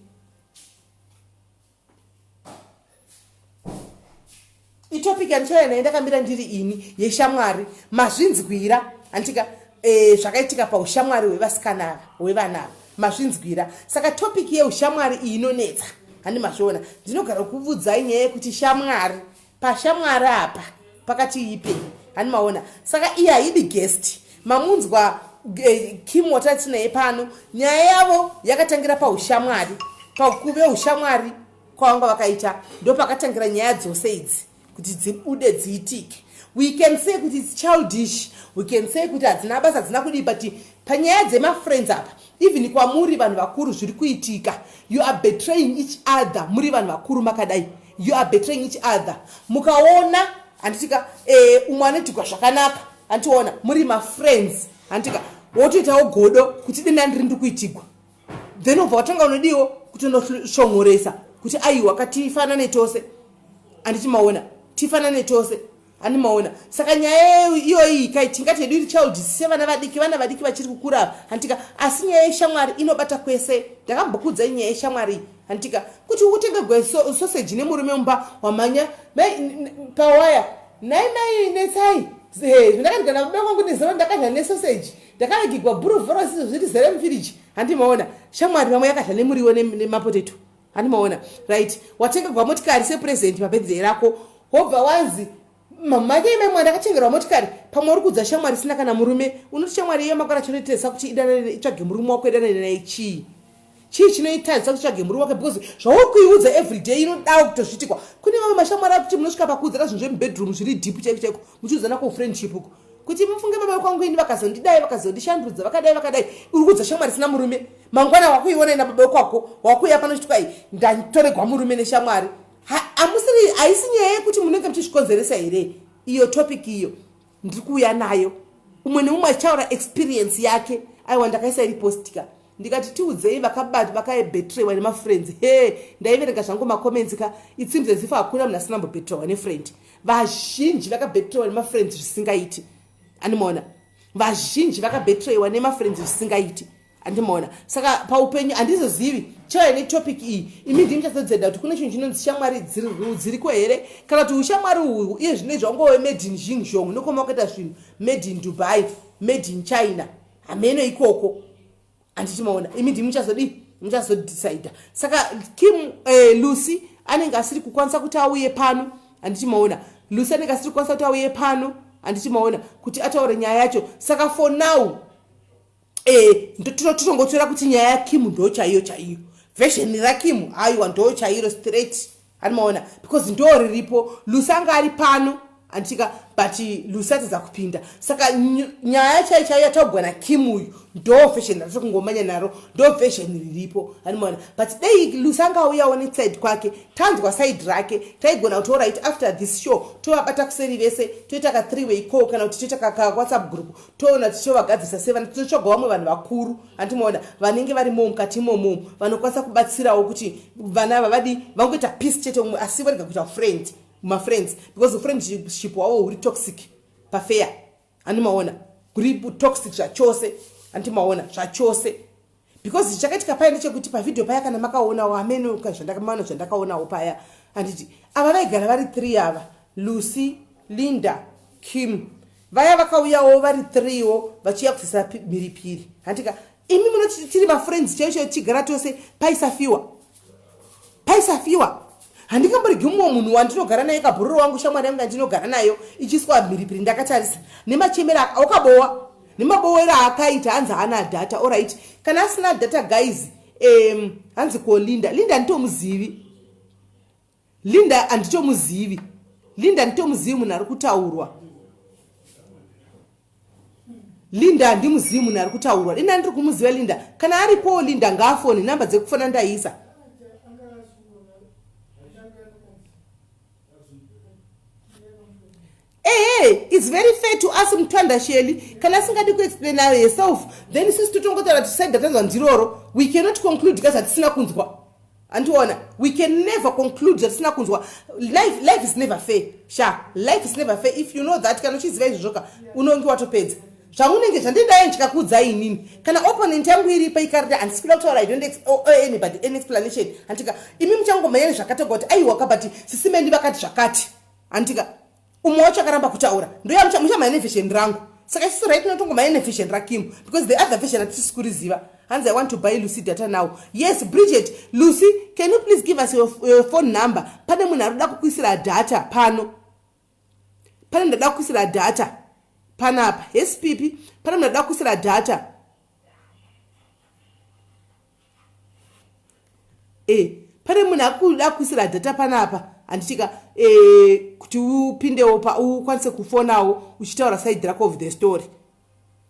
itopic yandichauya naye ndakamira ndiri ini yeshamwari mazvinzwira handitika e, zvakaitika paushamwari hwevasikana ava hwevana ava mazvinzwira saka topic yeushamwari iyi inonetsa handi mazviona ndinogara kuvudzai nyaya yekuti shamwari pashamwari apa pakati ipe hani maona saka iye haidi guest mamunzwa eh, kim watati naye pano nyaya yavo yakatangira paushamwari pakuve ushamwari kwavanga vakaita ndopakatangira nyaya dzose idzi kuti dzibude dziitike we can say kuti its childish we can say kuti hadzina basa hadzina kudii but panyaya dzemafriends apa even kwamuri vanhu vakuru zviri kuitika you are betraying each other muri vanhu vakuru makadai You are betraying each other. Mukaona handitika eh, umwe anoitigwa zvakanaka handiona muri mafriends handitika wotoitawo godo kuti denda ndiri ndi kuitigwa then ubva watanga unodiwo kutonoshongoresa kuti aiwa ka tifanane tose handiti maona tifanane tose ani maona saka nyaya iyoyi kai tingati yedu iri child sevana vadiki vana vadiki vachiri kukura hantika asi nyaya yeshamwari inobata kwese ndakambokuudzai nyaya yeshamwari hantika kuti utenge gwesoseji nemurume mumba wamhanya pawaya nhai mai netsai zvandakadya nakuda kwangu nezero ndakadya nesoseji ndakavigigwa buru vhorosi zviri zere mufiriji handimaona shamwari vamwe yakadya nemuriwo nemapoteto hani maona right watengerwa motikari sepresent pabirthday rako wobva wanzi mamhanya imai mwana akatengerwa motikari pamwe uri kudza shamwari isina kana murume unoti shamwari iyo makwana chinoitesa kuti idanane itsvage murume wako idanane naye chii chii chinoitadzisa kuti tsvage murume wake because zvauri kuiudza everyday inodawo kutozvitikwa kune vamwe mashamwari akuti munosvika pakuudzana zvinhu zvemubedroom zviri deep chaiko chaiko muchiudzana ko friendship uko kuti mufunge baba kwangu ini vakazondidai vakazondishandudza vakadai vakadai uri kudza shamwari isina murume mangwana wakuiona ina baba kwako wakuuya pano chitwa i ndatoregwa murume neshamwari amusiri haisi nyaya yekuti munenge muchizvikonzeresa here iyo topic iyo ndiri kuuya nayo umwe neumwe achitaura experience yake aiwa ndakaisa iri postika ndikati tiudzei vakabati vakaebetrewa nemafriends he ndaiverenga zvangu macomments ka it seems as if hakuna munhu asina mbobetrewa nefriend vazhinji vakabetrewa nemafriends zvisingaiti andimaona vazhinji vakabetrewa nemafriends zvisingaiti andimaona saka paupenyu handizozivi chaiva netopic iyi imi ndimi chazodzenda kuti kune chinhu chinonzi shamwari dziriko here kana kuti ushamwari uhwu iye zvino izvangove made in xingjong nokoma wakaita zvinhu made in dubai made in china hameno ikoko handiti maona imi ndimi muchazodii muchazodecide saka kim eh, lucy anenge asiri kukwanisa kuti auye pano handiti maona lucy anenge asiri kukwanisa kuti auye pano handiti maona kuti ataure nyaya yacho saka for now eh, tinotongotora kuti nyaya yakim ndo chaiyo chaiyo vhesheni rakim aiwa ndo chairo straight Ari maona because ndo riripo Lucy anga ari pano anditika but Lucy atadza kupinda saka nyaya chai chai yataugwa na Kim uyu ndo version ratiri kungomanya naro ndo version riripo ari maona but dei Lucy anga auyawo ne side kwake tanzwa side rake taigona kuti alright after this show tovabata kuseri vese toita ka three way call kana kuti toita ka WhatsApp group toona tichovagadzisa sevana tinotsvaga vamwe vanhu vakuru hanti maona vanenge vari mo mukati imomo vanokwanisa kubatsirawo kuti vana ava vadi vangoita peace chete umwe asi varega kuita friend mafriends because ufriendship wavo huri toxic pafeya handi maona huri toxic zvachose handi maona zvachose because chakaitika paya ndechekuti pavhidhio paya kana makaonawo amene zvandakamaona zvandakaonawo paya handiti ava vaigara vari three ava lucy linda kim vaya vakauyawo vari three wo vachiuya kufisira mhiripiri handika imi munoti tiri mafriends chaiyo chaiyo tichigara tose paisafiwa paisafiwa handingamboregi mumwe munhu wandinogara naye kabhururo wangu shamwari yangu yandinogara nayo ichiiswa mhiripiri ndakatarisa nemachemero akabowa nemabowero aakaita hanzi haana data orit kana asina data guys um, hanzi ko linda linda nditomuzivi Linda anditomuzivi. Linda anditomuzivi munhu ari kutaurwa. Linda andimuzivi munhu ari kutaurwa. Linda andiri kumuziva Linda. Kana aripowo Linda ngaafoni number dzekufona ndaisa. ehe its very fair to us mutanda sheli kana asingadi kuexplaina herself then sisi totongotaura tiside ratanzwa ndiroro we cannot conclude ka zvatisina kunzwa andiona we can never conclude zvatisina kunzwa life, life is never fair sha life is never fair if you know that kana uchiziva izvozvoka unonge watopedza zvaunenge zvandidaye ndikakudza inini kana opponent yangu iripa ikarita handisikuda kutaura i don't oh, oh, anybody any explanation handika imi muchangomhanya nezvakatoga kuti aiwaka but sisimendi vakati zvakati handika umwe wacho akaramba kutaura ndoyamuchamucha maine vision rangu saka isisu right notongo maine vision rakim because the other vision hatisisi kuriziva hanzi i want to buy lucy data now yes bridget lucy can you please give us your, your phone number pane munhu ari kuda kukuisira data pano pane ndada kukuisira data panapa yes pipi pane munhu ari kuda kukuisira data e pane munhu akuda kuisira data panapa handitika e eh, kuti upindewo pa ukwanise kufonawo uchitaura side rako of the story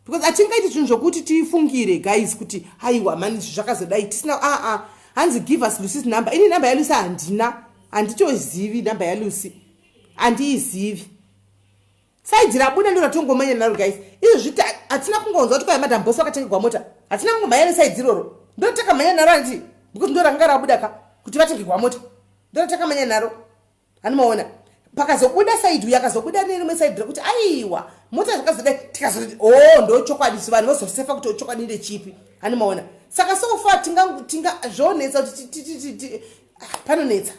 because atingaiti zvinhu zvokuti tifungire guys kuti haiwa mani izvi zvakazodai tisina aa ah, ah. hanzi give us lucy's number ini number yalucy handina handitozivi number yalucy handiizivi saidhi rabuda ndo ratongomanya naro guys izvo zviti hatina kungonzwa kuti kwaya madam bos vakatengerwa mota hatina kungomhanya nesaidhi iroro ndo takamhanya naro anditi because ndo ranga rabuda ka kuti vatengerwa mota ndo ratakamanya naro hanimaona pakazobuda saidhi uyo akazobuda nerimwe saidhi rekuti aiwa mota zvakazoda tikazoti o oh, ndo chokwadi so vanhu vazosefa kuti chokwadi ndechipi hanimaona saka sofa tingazvonetsa kuti ah, panonetsa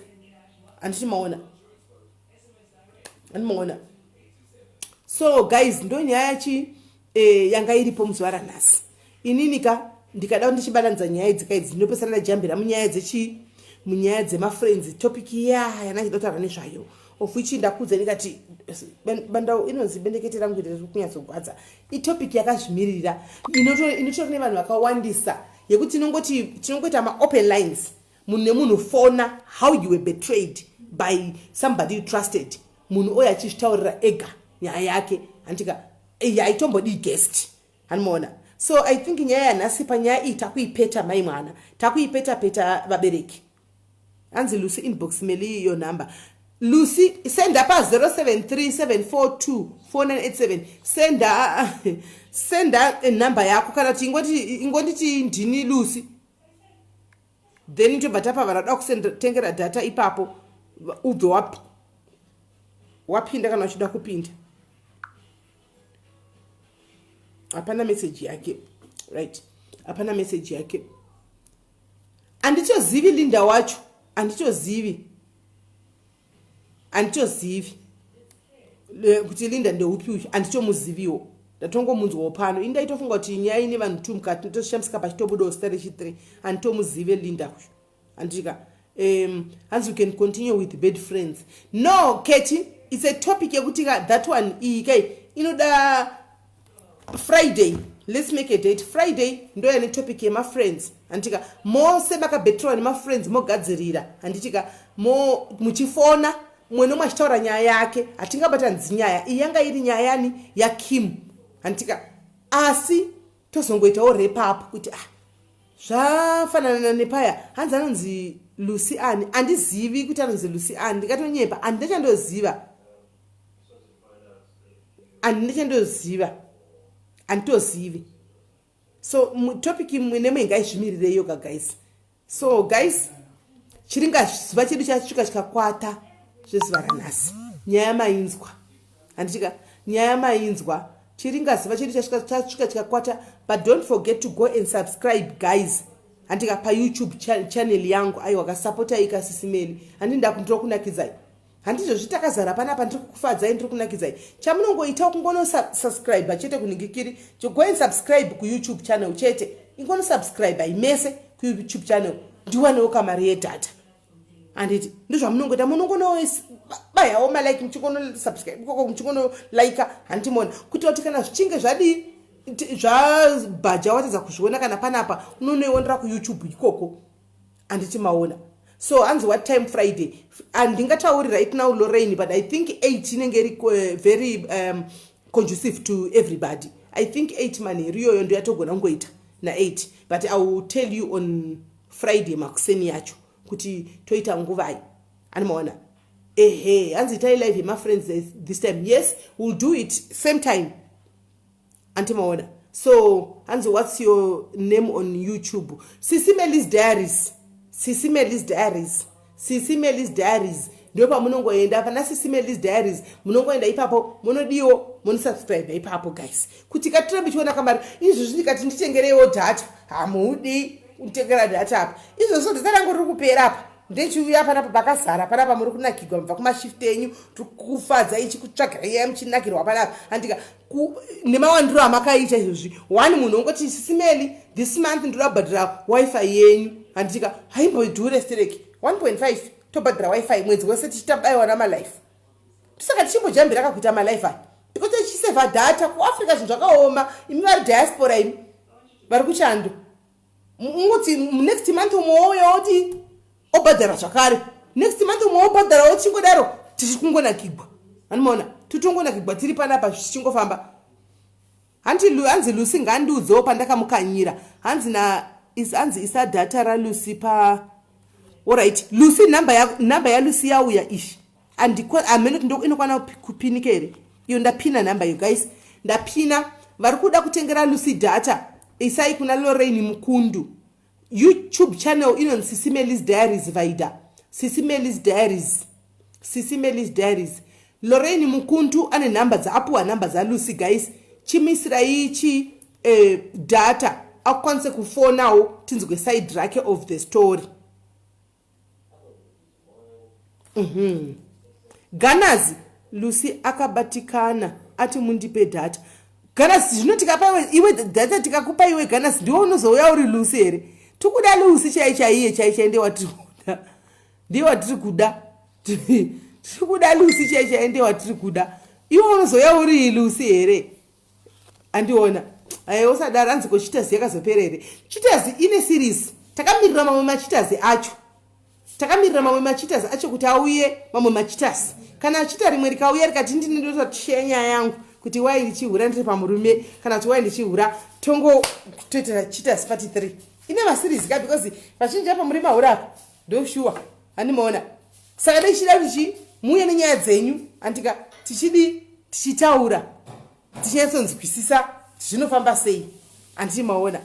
handiti maona andimaona so guys ndo nyaya yachi eh, yanga iripo muzuva ranhasi inini ka ndikada ndichibatanidza nyaya idzi ka idzi ndinopesana ndajambira munyaya dzechi munyaya dzemafriends topic iya yanachida kutaura nezvayo of which ndakudza ndikati bandau inonzi bendekete rangu iri riri kunyatsogwadza itopic yakazvimiririra inotori nevanhu vakawandisa yekuti tinongoti tinongoita maopen lines munhu nemunhu fona how you were betrayed by somebody you trusted munhu oyo achizvitaurira ega nyaya yake handitika yaitombodii guest hanimaona so i think nyaya yanhasi panyaya iyi takuipeta mai mwana takuipeta peta vabereki hanzi lucy inbox meli iyo number lucy senda pa 0737424987 senda senda number yako kana kuti ingonditi ndini lucy then tobva tapa vana da kusendtengera data ipapo ubve wap, wapinda kana uchida kupinda hapana meseji yake right hapana meseji yake anditozivi linda wacho anditozivi handitozivi kuti linda ndeupi uyu handitomuziviwo ndatongomunzwawo pano ini ndaitofunga kuti nyaya ine vanhu two mukati ndotoshamsika pachitobudawo sita rechithree handitomuzive linda uyu handitika um hanzi you can continue with bad friends no keti it's a topic yekuti ka that one iyi kai inoda friday let's make a date friday ndoya netopic yemafriends handitika mose makabetrwa nemafriends mogadzirira handitika mo muchifona mwe nomwe achitaura nyaya yake hatingabatanidzi nyaya iyi yanga iri nyaya yani yakim handitika asi tozongoitawo repapo kuti ah zvafanana nepaya hanzi anonzi lucy ani handizivi kuti anonzi lucy ani ndikatonyepa handina chandoziva handina chandoziva handitozivi so topic imwe nemwe ngaizvimirirei yoga guys so guys chiringa zuva chedu chasvika chikakwata zvezuva ranhasi nyaya mainzwa handitika nyaya mainzwa chiringa zuva chedu chasvika chikakwata but don't forget to go and subscribe guys handika payoutube channel yangu aiwa kasapotaika sisimeni handi ndakundirokunakidzai handizvo zvitakazara panapa ndiri kukufadzai ndiri kunakidzai chamunongoitawo kungonosubscribe chete kuningikiri go and subscribe kuyoutube channel chete ingonosubscribe imese kuyoutube channel ndiwanewo kamari yedata handiti ndozvamunongoita munongonobayawo malike muchingonosubscribe ikoko muchingonolaika handiti mona kuti wati kana zvichinge zvadii zvabhaja watadza kuzviona kana panapa unonoionera kuyoutube ikoko handiti maona so hanzi what time friday handingatauri ah, right now lorain but i think eight inenge iri eh, very um, conducive to everybody i think eight manheru iyoyo ndo yatogona kungoita naeight but i will tell you on friday makuseni yacho kuti toita nguvai animaona ehe hanzi itai live yemafriends this time yes will do it same time anti maona so hanzi what's your name on youtube sisi melis diaries sisi melis diaries sisi melis diaries ndo pamunongoenda pana sisi melis diaries munongoenda ipapo munodiwo monosubscribe ipapo guys kuti katira michiona kamari izvozvi ndikati nditengereiwo data hamuudi kunditengera data apa izvozvo data rangu riri kupera apa ndechiuya panapa pakazara panapa muri kunakirwa mubva kumashift enyu tikufadza ichikutsvagirai muchinakirwa panapa andika nemawandiro amakaita izvozvi one munhu ongoti simeli this month ndoda kubhadhira wifi yenyu handitika haimbodhure stereki 1.5 tobhadhira wifi mwedzi wese tichitabaiwa namalife ndosaka tichimbojambira kakuita malife aya because tichiseva data kuafrica zvinhu zvakaoma imi vari diaspora imi vari kuchando unoti next month umwe wouya woti obhadhara zvakare next month umwe wobhadhara wochingodaro tichingonakigwa anomaona titongonakigwa tiri panapa zvichingofamba hanzi lucy ngandiudzewo pandakamukanyira hanzi na is hanzi isa data ralucy pa orit lucy number yalucy yauya ishi hameno kuti ndoinokwana kupinika here iyo ndapina number yo guys ndapina vari kuda kutengera lucy data isai kuna lorain mukundu youtube channel inonzi sisi melis diaries vaida sisi melis diaries sisi melis diaries lorain mukundu ane nhamba dzaapuwa nhamba dzalucy guys chimisirai chi eh, data akukwanise kufonawo tinzwe side rake of the story Mm -hmm. Ganazi Lucy akabatikana ati mundipe data Ganazi zvino tikapa iwe, iwe data tikakupa iwe Ganazi ndiwe unozouya uri Lucy here tikuda Lucy chai chaiye chai chai ndiye watiri kuda ndiye watiri kuda tiri kuda Lucy chai chai ndiye watiri kuda iwe unozouya uri Lucy here andiona aye usadaro hanzi ko chitazi yakazopera here chitazi ine series takamirira mamwe machitazi acho takamirira mamwe machitazi acho kuti auye mamwe machitazi kana achita rimwe rikauya rikati ndini ndota tusheya nyaya yangu kuti wai ndichihura ndiri pamurume kana kuti wai ndichihura tongo toitira chitasi pati three ine masirizi ka because vazhinji apa muri mahura apa ndoshuwa handimaona saka dai tichida kuti chii muuye nenyaya dzenyu andika tichidii tichitaura tichinyatsonzwisisa zvinofamba sei anditi maona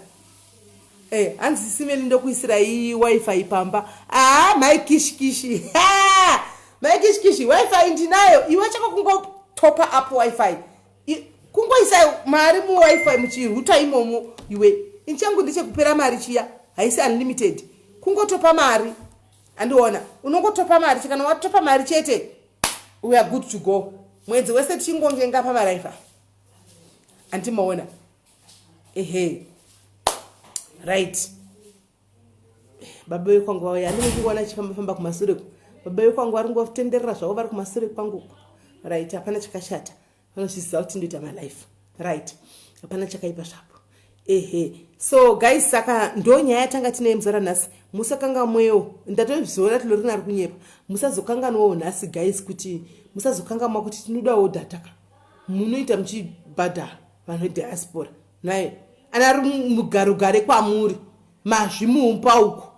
Eh, hanzi simeli ndokuisirai wifi pamba aa mai kishikishi Ha! mai kishikishi wifi ndinayo iwe chako kungotopa up wifi I- kungoisa mari muwifi muchiruta imomo iwe ini changu ndechekupera mari chiya haisi unlimited kungotopa mari andiona unongotopa mari chekana watopa mari chete we are good to go mwedzi wese tichingonge ngapa maraifa andimaona ehe right baba vekwangu vauya andine ndikuona chifamba famba kumasure ku baba vekwangu vari ngotenderera zvavo vari kumasure kwangu right hapana chakashata vanozviziva kuti ndoita malife right hapana chakaipa zvapo ehe so guys saka ndo nyaya yatanga tinaye muzara nhasi musakangamwewo ndatozviona tilorina ari kunyepa musazokanganwawo nhasi guys kuti musazokangamwa kuti tinodawo dataka munoita muchibhadhara vanhu vediaspora naye anari mugarogare kwamuri mazvi muumpa uko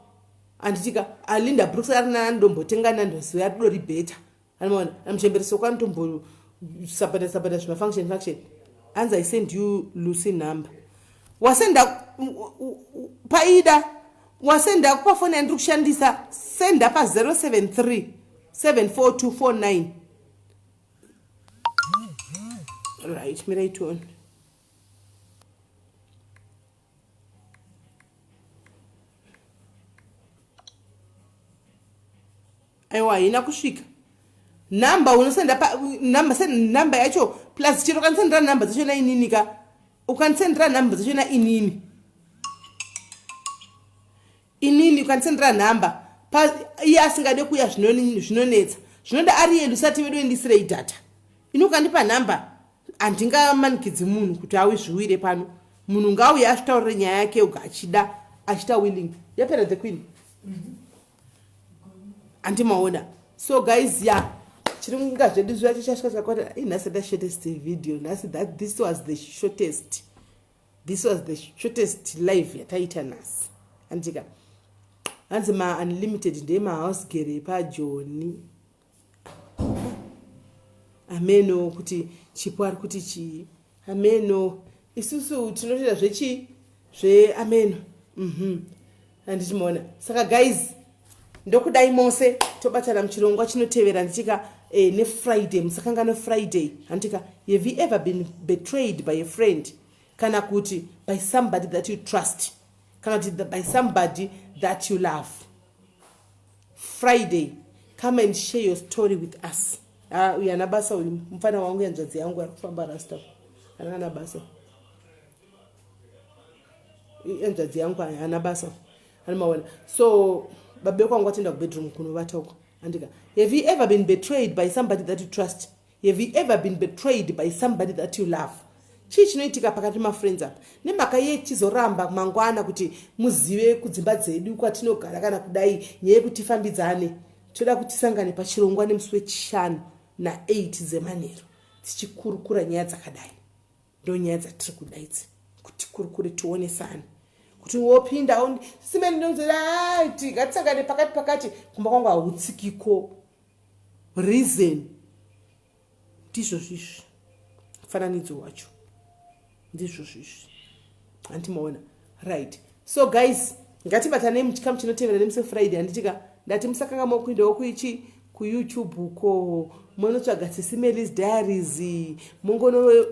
anditika alinda brooks ari nana ndombotenga nandozouya ridori bheta anomaona amuchembere soko anotombosabata sabata zvimafunction function anzi i send you lucy number wasenda paida wasenda pafoni yandiri kushandisa senda pa 073 74249 right miraitione aiwa haina kusvika number unosenda number send number yacho plus chero kanisendera number dzacho na inini ka ukanisendera number dzacho na inini inini ukandisendera nhamba pa iye asingade kuuya zvinonetsa zvinoda ari yeli usati vedu endisirei data ini ukandipa nhamba handingamanikidzi munhu kuti awi zviwire pano munhu ngauye asvitaurire nyaya yake yoga achida achita willing yapera the queen handimaona mm -hmm so guys ya yeah. chiri kunga zvedu zviya chichasvika chakati inhasi ndashotest video nhasi that this was the shortest this was the shortest live yataita nhasi handika hanzi maunlimited ndee mahouse gere epajoni hameno kuti chipo ari kuti chii hameno isusu tinotoita zvechii zveameno mm -hmm. handiti maona saka guys ndokudai mose tobatana muchirongwa chinotevera nditika eh, nefriday musakangano friday handitika have you ever been betrayed by a friend kana kuti by somebody that you trust kana kuti by somebody that you love friday come and share your story with us ah, uyu ana basa uyu mufana wangu yanzvadzi yangu ari kufamba rasta anana basa hanzvadzi yangu haana basa ani maona so babe kwangu atienda kubedroom kunovata uko andika have you ever been betrayed by somebody that you trust have you ever been betrayed by somebody that you love chii chinoitika pakati mafriends apa nemhaka yei tichizoramba mangwana kuti muzive kudzimba dzedu kwatinogara kana kudai nyaya yekuti tifambidzane toda kuti tisangane pachirongwa nemusi wechishanu na8 dzemanheru tichikurukura nyaya dzakadai ndonyaya dzatiri kuda idzi kuti kuri kuri tionesane kuti wopinda simeni ndonzira ti ngatisangane pakati pakati kumba kwangu hautsikiko reason ndizvozvizvi mufananidzo wacho ndizvozvizvi hanti maona right so guys ngatibatanei muchikamu chinotevera nemusi friday handitika ndati musakanga mokuindawo kuichi kuyoutube uko monotsvaga sisimelis diaries mongono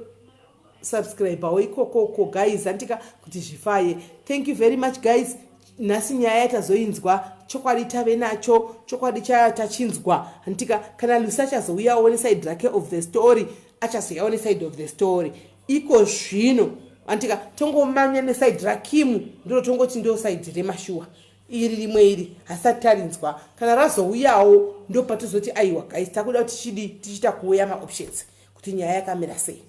subscribawo ikoko uko guys handitika kuti zvifaye thank you very much guys nhasi nyaya yatazoinzwa chokwadi tave nacho chokwadi chaya tachinzwa handitika kana lusi achazouyawo nesaid rake of the story achazouyawo nesaid of the story iko zvino andika tongomanya nesaidhi rakimu ndiro tongoti ndo saidhi remashuwa iri rimwe iri hasati tarinzwa kana razouyawo ndo patozoti aiwa guys takuda kuti tichidi tichiita kuuya maoptions kuti nyaya yakamira sei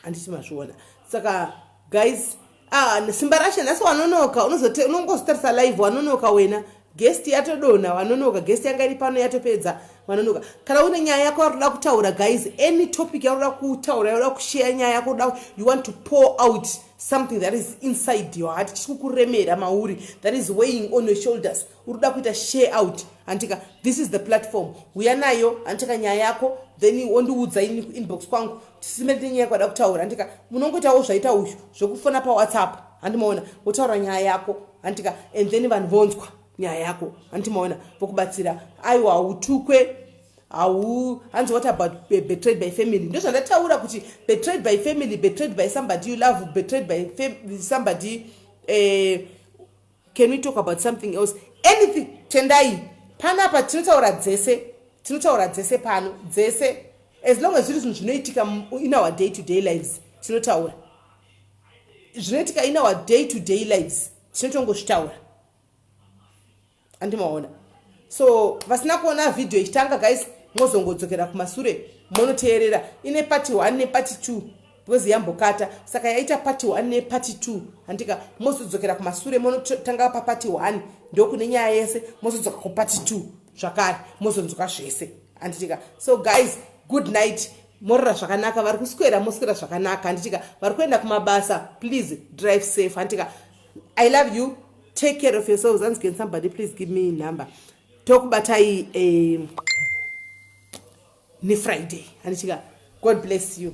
handiti mazviona saka guys Ah, simba rashe nhasi wanonoka unozote unongozotarisa live wanonoka wena guest yatodonha wanonoka guest yanga iri pano yatopedza wanonoka kana une nyaya yako yaroda kutaura guys any topic yaroda kutaura yaroda kusheya nyaya yako da you want to pour out something that is inside your heart chiri kukuremera mauri that is weighing on your shoulders uri kuda kuita share out hantika this is the platform huya nayo hantika nyaya yako then wondiudza ini kuinbox kwangu tisime tine nyaya kwada kutaura hantika munongoitawo zvaita uyu zvekufona pawhatsapp handimaona wotaura nyaya yako hantika and then vanhu vonzwa nyaya yako handimaona vokubatsira aiwa hautukwe hau hanzi what about betrayed by family ndozvandataura kuti betrayed by family betrayed by somebody you love betrayed by somebody eh, can we talk about something else anything tendai panapa tinotaura dzese tinotaura dzese pano dzese as long as zviri zvinhu zvinoitika in our day to day lives tinotaura zvinoitika in our day to day lives tinotongozvitaura andimaona so vasina kuona vhidhiyo ichitanga guys mozongodzokera kumasure monoteerera ine pati one nepati two because yambokata saka yaita party one neparty two handika mozodzokera kumasure monotanga paparty one ndokune nyaya yese mozodzoka kuparty two zvakare mozonzwa zvese handitika so guys good night morora zvakanaka vari kuswera moswera zvakanaka handitika vari kuenda kumabasa please drive safe handitika i love you take care of yourselves anzgen somebody please give me number tokubatai eh, nefriday handichika god bless you